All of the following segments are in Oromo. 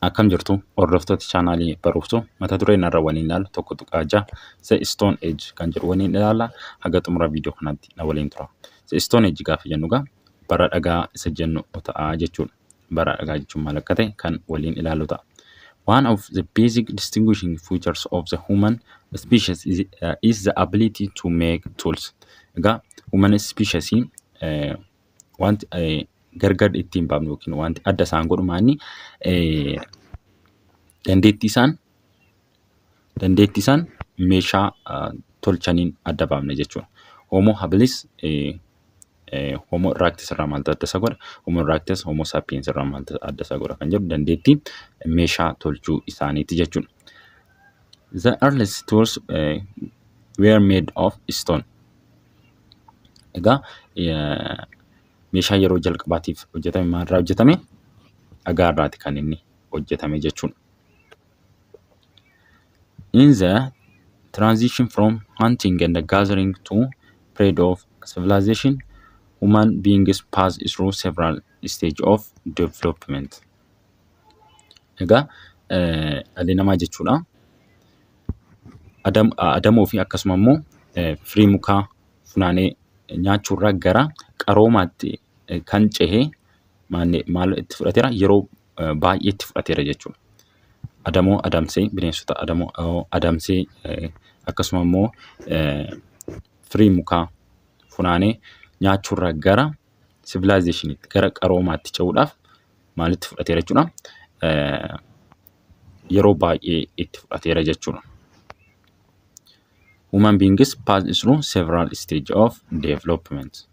Akkam jirtu hordoftoota chaanaalii barumsa mata duree narra waliin ilaalu tokko tuqaa ja'a The Stone Age kan jedhu waliin ilaalla haga xumura viidiyoo kanaatti na waliin tura. The Stone Age gaafa jennu egaa bara dhagaa isa jennu ta'a jechuudha. bara dhagaa jechuun maal akka ta'e kan waliin ilaallu ta'a. One of the basic distinguishing features of the human species is, uh, is the ability to make tools. Egaa human species eh, wanti eh, gargar ittiin baafnu yookiin wanti adda isaan godhu maanni eh, dandeettii isaan dandeetti isaan meeshaa tolchaniin adda baafna jechuudha. Homo habilis homo erectus irraa maaltu adda isa godha? Homo erectus homo sapiens irraa maaltu adda isa godha kan jedhu dandeettii meeshaa tolchuu isaaniiti jechuudha. The earliest tools uh, were made of stone. Egaa meeshaa yeroo jalqabaatiif hojjetame maalirraa hojjetame? Dhagaarraati kan inni hojjetame jechuudha. In the transition from hunting and gathering to period of civilization, human beings pass through several stage of development. Egaa eh, dhalli namaa jechuudha. Adam, adamoo fi akkasuma immoo eh, firii mukaa funaanee nyaachuurraa gara qaroomaatti eh, kan cehe maanne- maal itti fudhateera yeroo baay'ee itti fudhateera jechuudha. Adamoo adamsee bineensota adamoo adamsee akkasuma immoo firii mukaa funaanee nyaachuurraa gara sivilaayizeeshiniitti gara qaroomaatti ce'uudhaaf maalitti fudhateera jechuudha. Yeroo baay'ee itti fudhateera jechuudha. Human beings pass through several stage of development.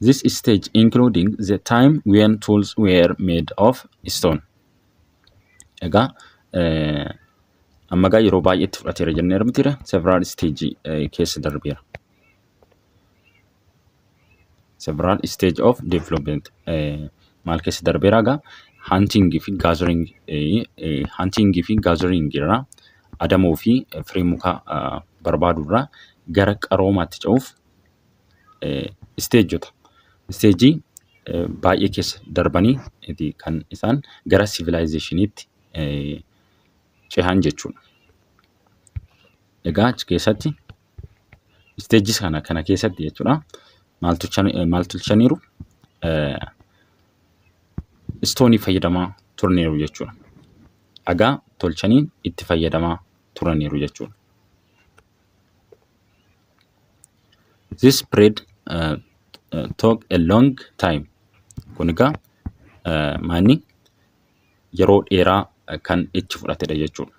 This stage including the time when tools were made of stone. Egaa eh, amma egaa yeroo baay'eetti fudhateera jennee argitira several stage eh, keessa darbeera. Several stage of development eh, maal keessa darbeera egaa hunting fi gathering eh, eh, hunting fi gathering irraa adamoo fi firii mukaa barbaadu irraa gara qaroomaatti ce'uuf isteejota isteejii baay'ee keessa darbanii ti kan isaan gara sivilaayizeeshiniitti cehan jechuudha. Egaa achi keessatti isteejii kana kana keessatti jechuudha maal tolchan- maal tolchaniiru istoonii fayyadamaa turaniiru jechuudha. dhagaa tolchanii itti fayyadamaa turaniiru jechuudha. This spread uh, uh, took a long time. Kun egaa uh, manni yeroo dheeraa uh, kan itti fudhatedha jechuudha.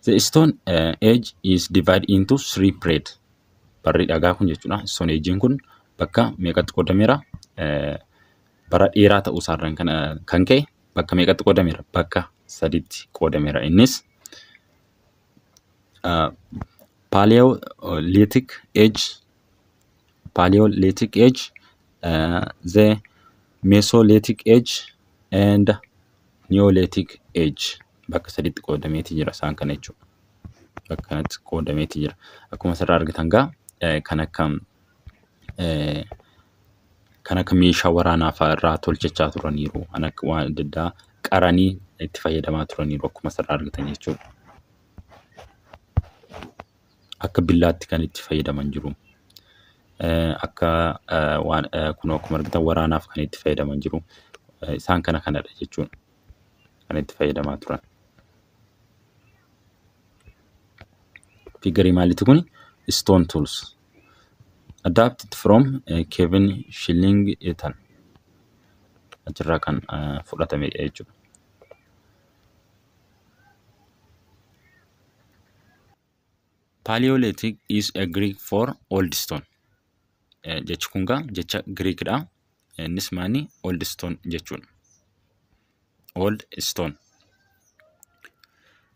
The stone uh, age is divided into three period. Barri dhagaa kun jechuudha. Stone age'n kun bakka meeqatti qoodameera? Uh, bara dheeraa ta'uu isaarraan kan, uh, kan ka'e bakka meeqatti qoodameera? Bakka sadiitti qoodameera. Innis Paleolithic Age, Paleolithic Age, uh, the Mesolithic Age and Neolithic Age bakka sadiitti qoodameeti jira isaan kana jechuudha. Bakka kanatti qoodameeti jira. Akkuma asirraa argitan gaa eh, kan akka eh, kan akka meeshaa waraanaa fa'a irraa tolchachaa turaniiru. Kan akka waan adda addaa qaranii itti fayyadamaa turaniiru akkuma asirraa argitan jechuudha. Akka billaatti kan itti fayyadaman jiru. Eh, Akka eh, waan eh, kun akkuma argitan waraanaaf kan itti fayyadaman jiru. Eh, Isaan kana kanadha jechuudha. Kan itti fayyadamaa turan. Figarii maalitti kun? Stone tools. Adapted from eh, Kevin Schilling Ethan achirraa kan eh, fudhatamedha jechuudha. Paleolithic is a Greek for old stone. Eh, Jechi kun gaa jecha Giriikidha. Innis maani old stone jechuudha. Old stone.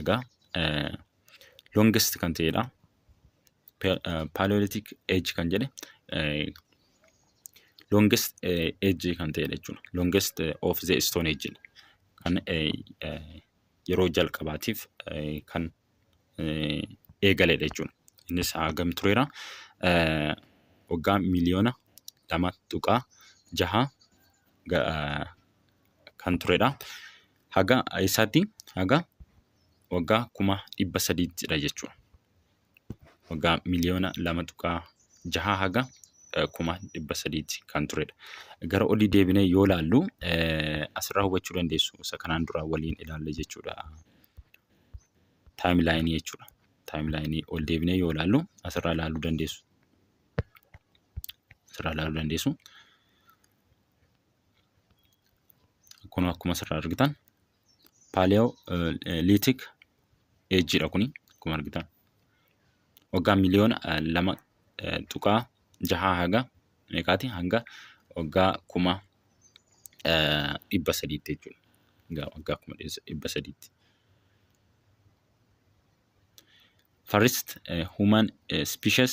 egaa longest kan ta'edha. Paleolithic age kan jedhe longest age kan ta'edha jechuudha. Longest of the stone age kan yeroo jalqabaatiif kan eegaledha jechuudha. Innis hagam tureera waggaa miliyoona lama tuqaa jaha kan turedha. haga eessaatti? Haga waggaa kuma dhibba sadiitti dha jechuudha. Waggaa miliyoona lama tuqaa jahaa haga eh, kuma dhibba sadiitti kan turedha. Gara olii deebinee yoo ilaallu eh, asirraa hubachuu dandeessu isa kanaan dura waliin ilaalle jechuudha. Taayimlaayinii jechuudha. Taayimlaayinii ol deebinee yoo ilaallu asirraa ilaaluu dandeessu. Asirraa ilaaluu dandeessu. kun akkuma asirraa argitan paaliyoo liitik eejjiidha kuni akkuma argitan waggaa miliyoona lama tuqaa jahaa haga meeqaati hanga waggaa kuma dhibba sadiitti jechuudha. Egaa waggaa kuma dhibba sadiitti. First human species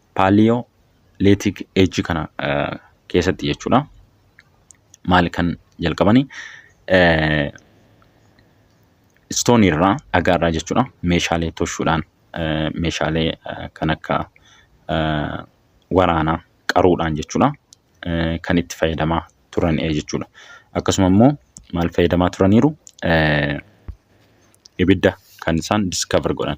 paaliyoo leetik eejii kana keessatti jechuudha. Maali kan jalqabani istoonii irraa dhagaa irraa jechuudha meeshaalee toshuudhaan meeshaalee kan akka waraanaa qaruudhaan jechuudha kan itti fayyadamaa turan jechuudha. Akkasuma immoo maal fayyadamaa turaniiru ibidda kan isaan discover godhan.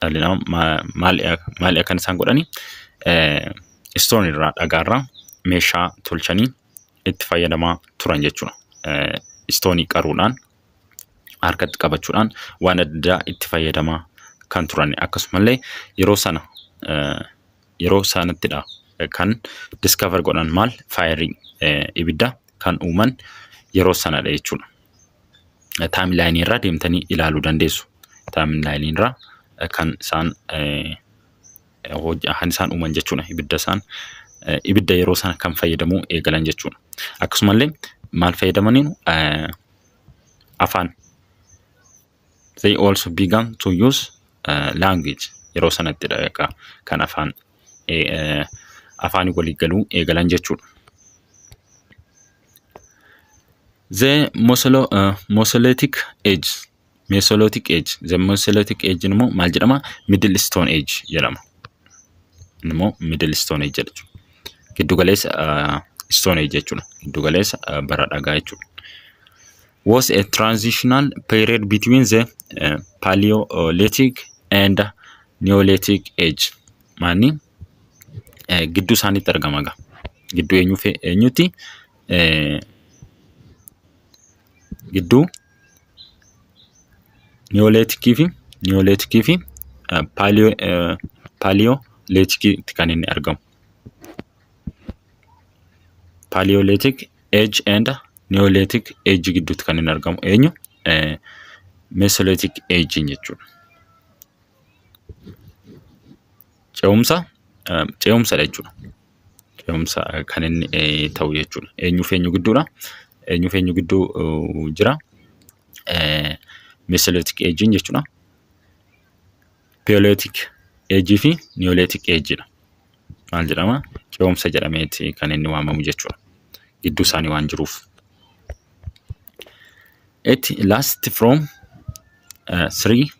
dhalli namaa maali akkan isaan godhani istoon irraa dhagaarraa meeshaa tolchanii itti fayyadamaa turan jechuudha. Istoonii qaruudhaan harkatti qabachuudhaan waan addaa itti fayyadamaa kan turan akkasumallee yeroo sana yeroo saanittidha kan discover godhan maal faayirii ibidda kan uuman yeroo sanadha jechuudha. Taayimlaayinii irraa deemtanii ilaaluu dandeessu. Taayimlaayinii irraa kan isaan kan isaan uuman jechuudha ibidda isaan ibidda yeroo sana kan fayyadamuu eegalan jechuudha. Akkasumallee maal fayyadamaniiru afaan they also began to use uh, language yeroo sanatti dha egaa kan afaan eh, eh, afaan walii galuu eegalan jechuudha. The Mosolo, uh, Mesolithic Age Mesolithic Age The Mesolithic Age immoo maal jedhama? Middle Stone Age jedhama. Inni immoo Middle Stone Age jedha jechuudha. Giddugaleessa uh, Stone Age jechuudha. Giddugaleessa uh, bara dhagaa jechuudha. was a transitional period between the uh, Paleolithic and Neolithic age. Maani eh, gidduu isaaniitti argama gaa. Gidduu eenyuu fi eenyutti? Eh, gidduu Neolithic fi Neolithic fi eh, Paleo eh, Paleolithic kan inni argamu. Paleolithic age and Niyoolitik eejii gidduutti kan inni argamu eenyu? Meesolitik eejiin jechuudha. Ce'umsa ce'umsadha jechuudha. Ce'umsa kan inni ta'u jechuudha. Eenyuuf eenyu gidduudha? Eenyuuf eenyu gidduu jira? Meesolitik eejiin jechuudha. Peeleetik eejii fi niyoleetik eejiidha. Maal jedhama? Ce'umsa jedhameeti kan inni waamamu jechuudha. Gidduu isaanii waan jiruuf. It lasts from uh, 3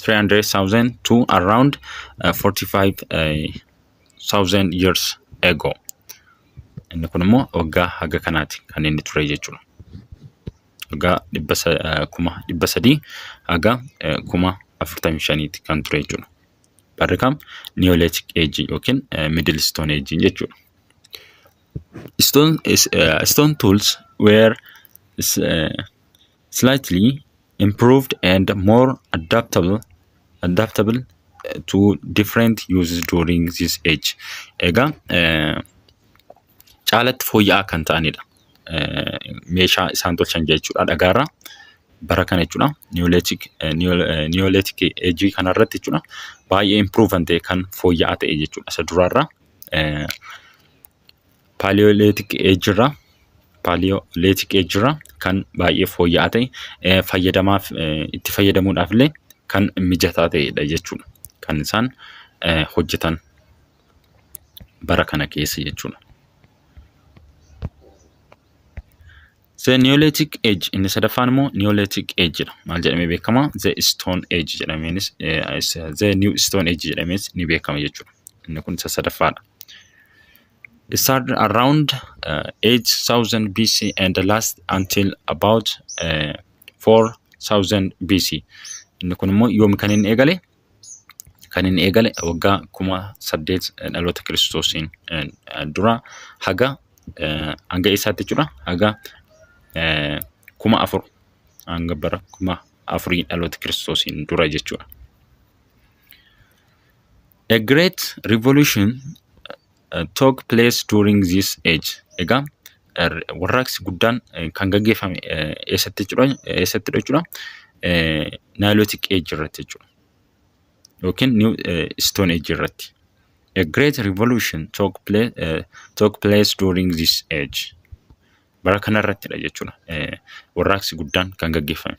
300,000 to around uh, 45,000 years ago. Inni kun immoo waggaa haga kanaati kan inni ture jechuudha. haga dhibba sa- eh, kuma dhibba sadii haga eh, kuma afurtamii shaniiti kan ture jechuudha. Barri kam Neolithic Age yookiin eh, Middle Stone Age jechuudha. Stone, is, eh, stone tools were is, eh, slightly improved and more adaptable adaptable eh, to different uses during this age. Egaa eh, caalatti fooyya'aa kan ta'anidha. Meeshaa isaan tolchan jechuudha dhagaarraa. Bara kana jechuudha niyoolitik eejii kanarratti jechuudha baay'ee impiruuv kan ta'e kan fooyya'aa ta'e jechuudha isa duraarraa. Paaliyoolitik eejirraa paaliyoolitik eejirraa kan baay'ee fooyya'aa ta'e fayyadamaaf itti fayyadamuudhaaf illee kan mijataa ta'edha jechuudha kan isaan hojjetan. bara kana keessa jechuudha. The Neolithic Age inni sadaffaan immoo Neolithic Age jedha. Maal jedhamee beekama? The Stone Age jedhameenis eh, is- The New Stone Age jedhamees ni beekama jechuudha. Inni kun isa sadaffaadha. It started around uh, 8000 BC and last until about uh, 4000 BC. Inni kun immoo yoom kan inni eegale? kan inni eegale waggaa kuma saddeet dhaloota kiristoosiin dura haga hanga eessaatti jechuudha haga kuma afur hanga bara kuma afurii dhaloota kiristoosiin dura jechuudha. A great revolution took place during this age. Egaa warraaqsi guddaan kan gaggeeffame eessatti jechuudha eessattidha jechuudha Nilotic age irratti jechuudha yookiin New Stone age irratti. A great revolution took place, uh, took place during this age. Bara kanarrattidha jechuudha warraaqsi guddaan kan gaggeeffame.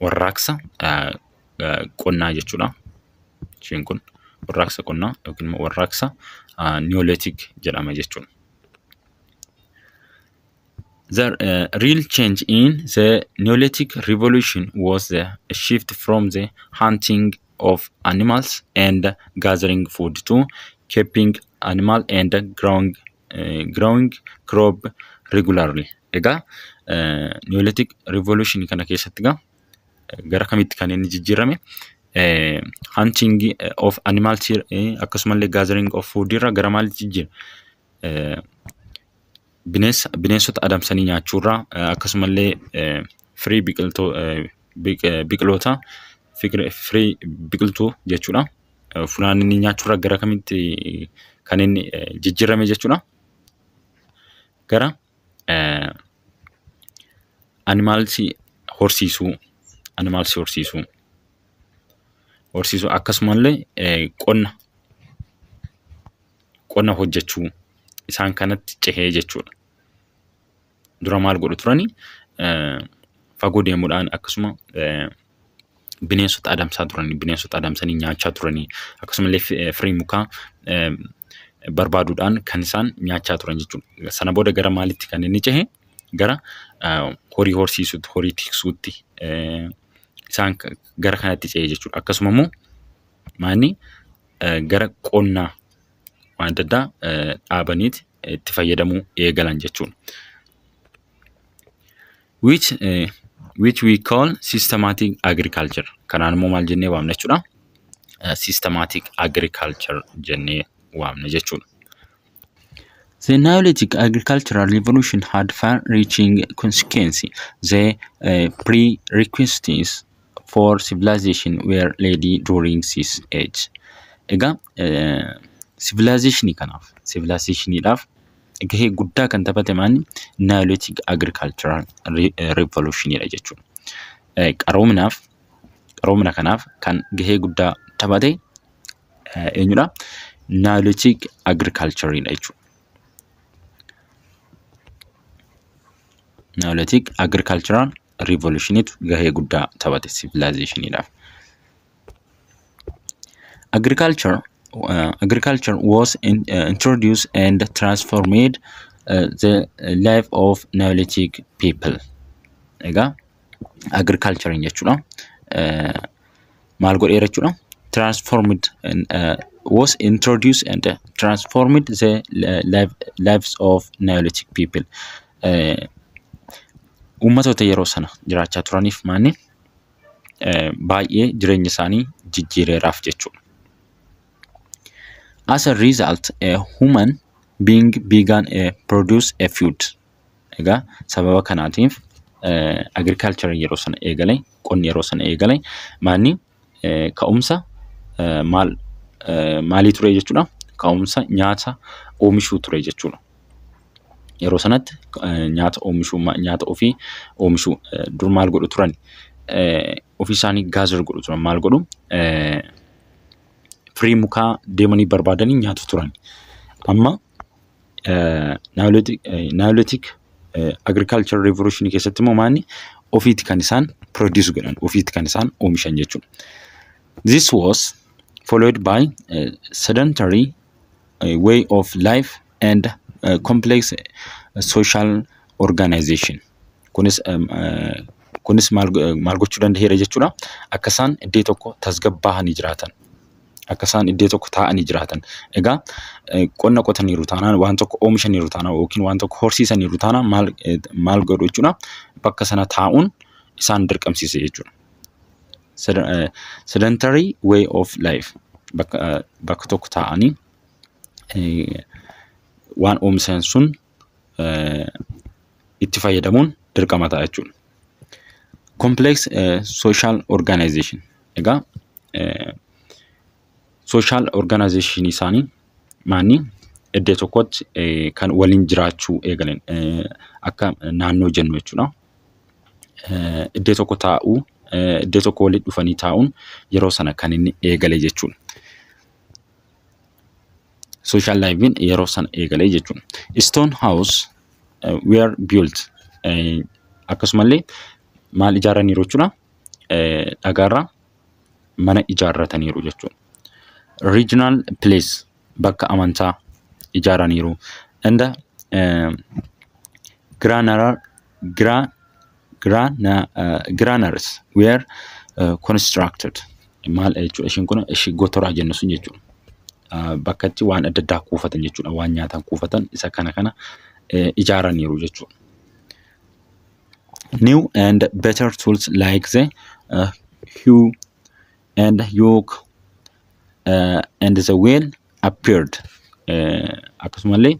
warraaqsa qonnaa jechuudha. Isheen kun warraaqsa qonnaa yookiin immoo warraaqsa Niyoolitik jedhama jechuudha. The uh, real change in the Neolithic revolution was the shift from the hunting of animals and gathering food to keeping animal and growing growing crop regularly. Egaa Neolithic revolution kana keessatti egaa gara kamitti kan inni jijjiirame hunting of animal tier akkasumallee gathering of food irra gara maalitti jijjiirame bineensa bineensota adamsanii nyaachuurraa akkasumallee firii biqiltuu biqiloota firii biqiltuu jechuudha. eh, funaannanii nyaachuurra gara kamitti eh, kan inni eh, jijjiirame jechuudha. Gara eh, animaalsi horsiisuu, animaalsi horsiisuu, horsiisuu akkasumallee eh, qonna qonna hojjechuu isaan kanatti cehee jechuudha. dura maal godhu turani? Fagoo deemuudhaan akkasuma bineensota adamsaa turani. Bineensota adamsanii nyaachaa turani. Akkasumallee firii mukaa barbaaduudhaan kan isaan nyaachaa turan jechuudha. Sana booda gara maalitti kan inni cehe? Gara horii horsiisuutti, horii tiksuutti isaan gara kanatti cehe jechuudha. Akkasuma immoo maanni gara qonnaa waan adda addaa dhaabaniiti itti fayyadamuu eegalan jechuudha. Which, eh, which we call systematic agriculture. Kanaan immoo maal jennee waamna jechuudha? Eh, Systematic agriculture jennee waamna jechuudha. The Neolithic agricultural revolution had far-reaching consequences. The uh, prerequisites for civilization were lady during this age. Egaa civilization kanaaf civilizationidhaaf gahee guddaa kan taphate maanni Neolithic agricultural revolutionidha jechuudha. Qaroominaaf qaroomina kanaaf kan gahee guddaa taphate eenyudha? Neolithic agricultureidha jechuudha. Neolithic agricultural riivolushiniitu gahee guddaa taphate sivilaayizeeshiniidhaaf. Agriculture uh, agriculture was in, uh, introduced and transformed uh, the life of Neolithic people. Egaa agriculture jechuudha. Uh, maal godheera jechuudha. Transformed uh, was introduced and uh, transformed the life, lives of Neolithic people. Uh, Uummatoota yeroo sana jiraachaa turaniif maanni uh, baay'ee jireenya isaanii jijjiireeraaf jechuudha. As a result, a human being began a produce a food. Egaa sababa kanaatiif agriculture yeroo sana eegale qonni yeroo sana eegale maanni ka'umsa maal maalii ture jechuudha ka'umsa nyaata oomishuu ture jechuudha. Yeroo sanatti nyaata oomishuu nyaata ofii oomishuu dur maal godhu turan ofii isaanii gaazir godhu turan maal godhu firii mukaa deemanii barbaadanii nyaatu turan amma Naayolitik agirikaalchar riivoluushinii keessatti immoo maanni ofiiti kan isaan produce godhan ofiiti kan isaan oomishan jechuudha. This was followed by uh, sedentary uh, way of life and uh, complex uh, social organization. Kunis um, uh, kunis maal go- maal gochuu danda'eera jechuudha. Akka isaan iddoo tokko tasgabbaa'anii jiraatan akka isaan iddoo tokko taa'anii jiraatan. Egaa qonna qotaniiru taanaan waan tokko oomishaniiru taanaan yookiin waan tokko horsiisaniiru taanaan maal maal godhu jechuudha bakka sana taa'uun isaan dirqamsiise jechuudha. Sedentary way of life bakka bakka tokko taa'anii waan oomishan sun itti fayyadamuun dirqama ta'a jechuudha. Complex social organization egaa social organization isaanii maanni iddoo tokkotti kan waliin jiraachuu eegalan akka naannoo jennu jechuudha. Iddoo tokko taa'uu iddoo tokko walitti dhufanii taa'uun yeroo sana kan inni eegale jechuudha. Social life in yeroo sana eegalee jechuudha. Stone house uh, were built uh, akkasumallee maal ijaarraniiru jechuudha. Uh, dhagaarraa mana ijaarrataniiru jechuudha. Regional place bakka amantaa ijaaraniiru. And uh, granular, gra, giraanars weer konistiraakted maal jechuudha ishiin kun ishii gotoraa jennu sun jechuudha. Bakka itti waan adda addaa kuufatan jechuudha waan nyaatan kuufatan isa kana kana ijaaraniiru jechuudha. New and better tools like the uh, hue and yoke uh, and the wheel appeared akkasumallee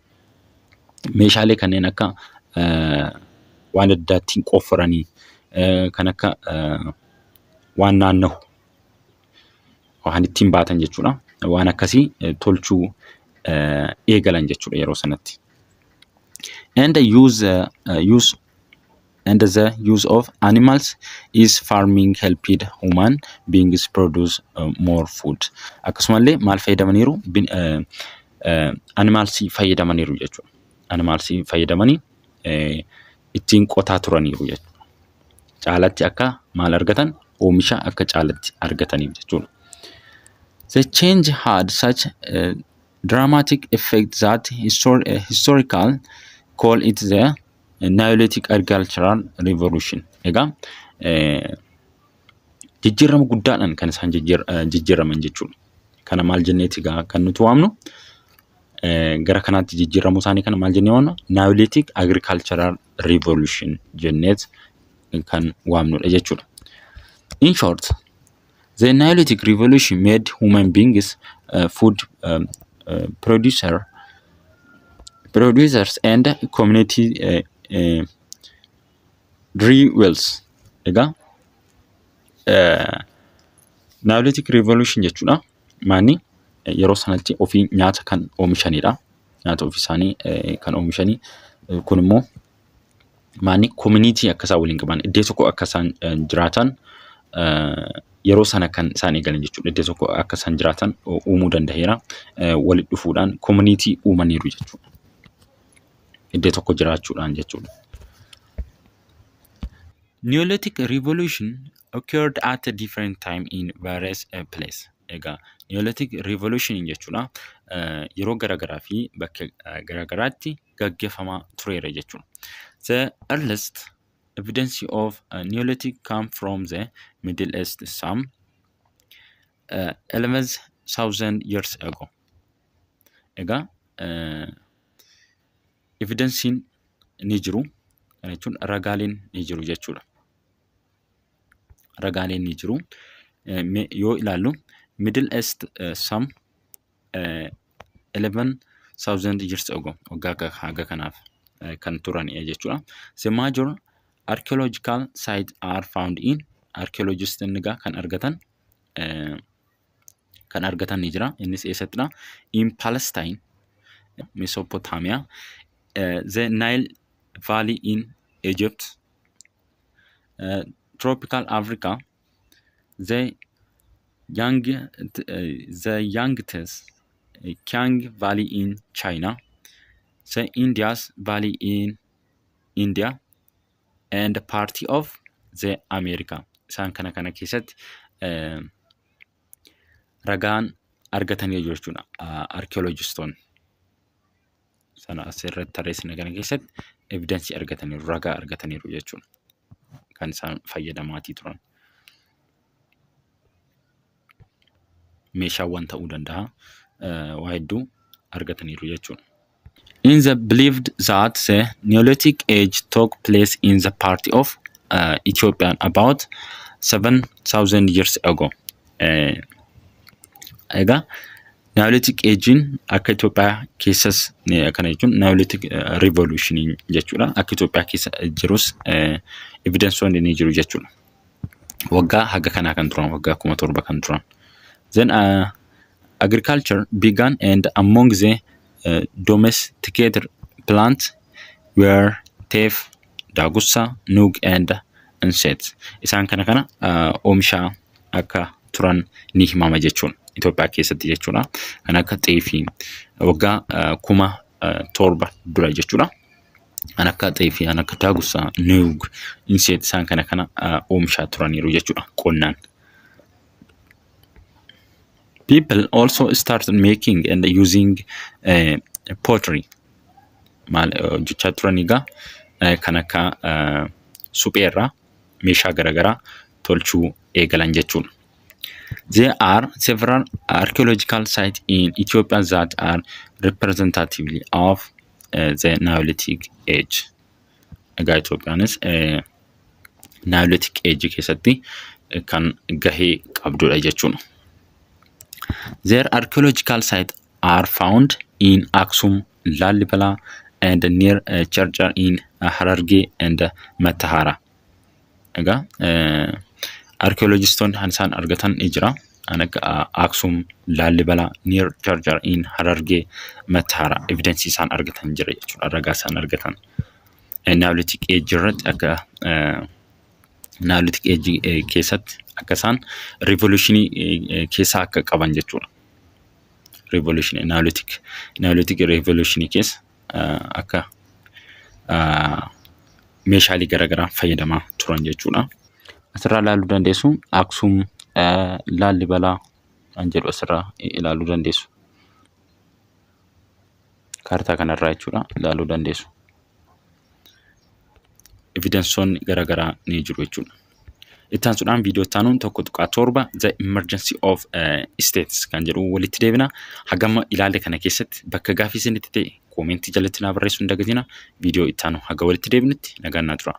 meeshaalee kanneen akka waan adda ittiin qofforanii kan akka waan naannahu waan ittiin baatan jechuudha. Waan akkasii tolchuu eegalan jechuudha yeroo sanatti. And use, use and the use of animals is farming helped human beings produce uh, more food akkasumallee maal fayyadamaniiru Bin- eh, eh, animals fayyadamaniiru jechuudha animals fayyadamanii eh, ittiin qotaa turaniiru jechuudha caalatti akka maal argatan oomisha akka caalatti argataniif jechuudha The change had such a dramatic effect that histor- uh, historical call it the Neolithic Agricultural Revolution. Egaa jijjiirama guddaadhaan kan isaan jijjiiraman jechuudha. Kana maal jenneeti egaa kan nuti waamnu gara kanaatti jijjiiramuu isaanii kana maal jennee waamna? Neolithic Agricultural Revolution jenneet kan waamnudha jechuudha. In short, The Neolithic Revolution made human beings uh, food um, uh, producer, producers and community uh, uh, dwellers. Egaa uh, Neolithic Revolution jechuudha. Maanni eh, yeroo sanatti ofii nyaata kan oomishanidha. Nyaata ofii isaanii eh, kan oomishanii. Eh, Kun immoo maanni koominiitii akka isaan waliin qaban iddoo tokko akka isaan jiraatan yeroo sana kan isaan eegalan jechuudha. Iddoo tokko akka isaan jiraatan uumuu danda'eera. Walitti dhufuudhaan koominiitii uumaniiru jechuudha. Iddoo tokko jiraachuudhaan jechuudha. Neolithic revolution occurred at a different time in various uh, place. Egaa Neolithic revolution jechuudha. Yeroo garaagaraa fi bakka garaagaraatti gaggeeffamaa tureera jechuudha. The earliest evidence of uh, Neolithic come from the Middle East some uh, 11,000 years ago. Egaa uh, evidensiin ni jiru kana jechuun ragaaleen ni jiru jechuudha. Ragaaleen ni jiru. Eh, me- Yoo ilaallu Middle East uh, some eh, 11,000 years ago waggaa akka haga kanaaf eh, kan turan eh, jechuudha. The major archaeological sites are found in archaeologists egaa kan argatan eh, kan argatan ni jira. Innis eessattidha? In Palestine, Mesopotamia, eh, the Nile Valley in Egypt, eh, tropical Africa, the young the youngest Kiang Valley in China, the India's Valley in India, and party of the America. Isaan kana kana keessatti eh, ragaan argatanii jiru jechuudha. Arkiyooloojistoonni sana asirratti tarreessine kana keessatti evidensii argataniiru, ragaa argataniiru jechuudha. kan isaan fayyadamaatii turan. Meeshaawwan ta'uu danda'a. eh, Waa hedduu argataniiru jechuudha. In the believed that the Neolithic age took place in the part of uh, Ethiopia about 7000 years ago. Eh, Egaa Neolitic Age'n akka Itoophiyaa keessas eh, akkana jechuun Neolitic eh, Revolution jechuudha. Akka Itoophiyaa keessa jirus eh, evidensoonni ni jiru jechuudha. Waggaa haga kanaa kan turan waggaa kuma torba kan turan. Then uh, agriculture began and among the uh, domesticated plants where, teef, daagursa, nuug and inset. Isaan kana kana oomishaa akka turan ni himama jechuudha. Itoophiyaa keessatti jechuudha. Kan akka xeefii waggaa kuma torba dura jechuudha. Kan akka xeefii, kan akka daagursa, nuug, inset isaan kana kana oomishaa turaniiru jechuudha qonnaan. people also started making and using uh, pottery maal eh, hojjechaa turan egaa eh, kan akka eh, supheerraa meeshaa garaagaraa tolchuu eegalan jechuudha. There are several archaeological sites in Ethiopia that are representatively of uh, the Neolithic age. Egaa Itoophiyaanis eh, Naayoleetik eejii keessatti kan gahee qabdudha jechuudha. Their archaeological sites are found in Aksum, Lallibala and near uh, Charchar in uh, Hararge and uh, Matahara. Egaa archaeologistoonni kan isaan argatan ni jira. Kan akka Aksum, Lallibala, near Charchar in Hararge, Matahara evidence isaan argatan jira jechuudha. Ragaa isaan argatan. naayilootik eejjii irratti akka naayilootik eejjii keessatti akka isaan riivoluushinii keessaa akka qaban jechuudha. Riivoluushinii naayilootik naayilootik riivoluushinii keessa akka meeshaalee garaagaraa fayyadamaa turan jechuudha. Asirraa ilaaluu dandeessu Aksuum, Laallibalaa kan jedhu asirraa ilaaluu dandeessu. kaartaa kanarraa jechuudha ilaaluu dandeessu. Evidensoonni garaagaraa ni jiru jechuudha. Itti aansuudhaan viidiyoo itti aanuun tokko tuqaa torba the emergency of uh, states kan jedhu walitti deebina. Hagama ilaalle kana keessatti bakka gaafii isinitti ta'e koomentii jalatti naa barreessuu hin dagatina. Viidiyoo itti aanu haga walitti deebinutti nagaan naa tura.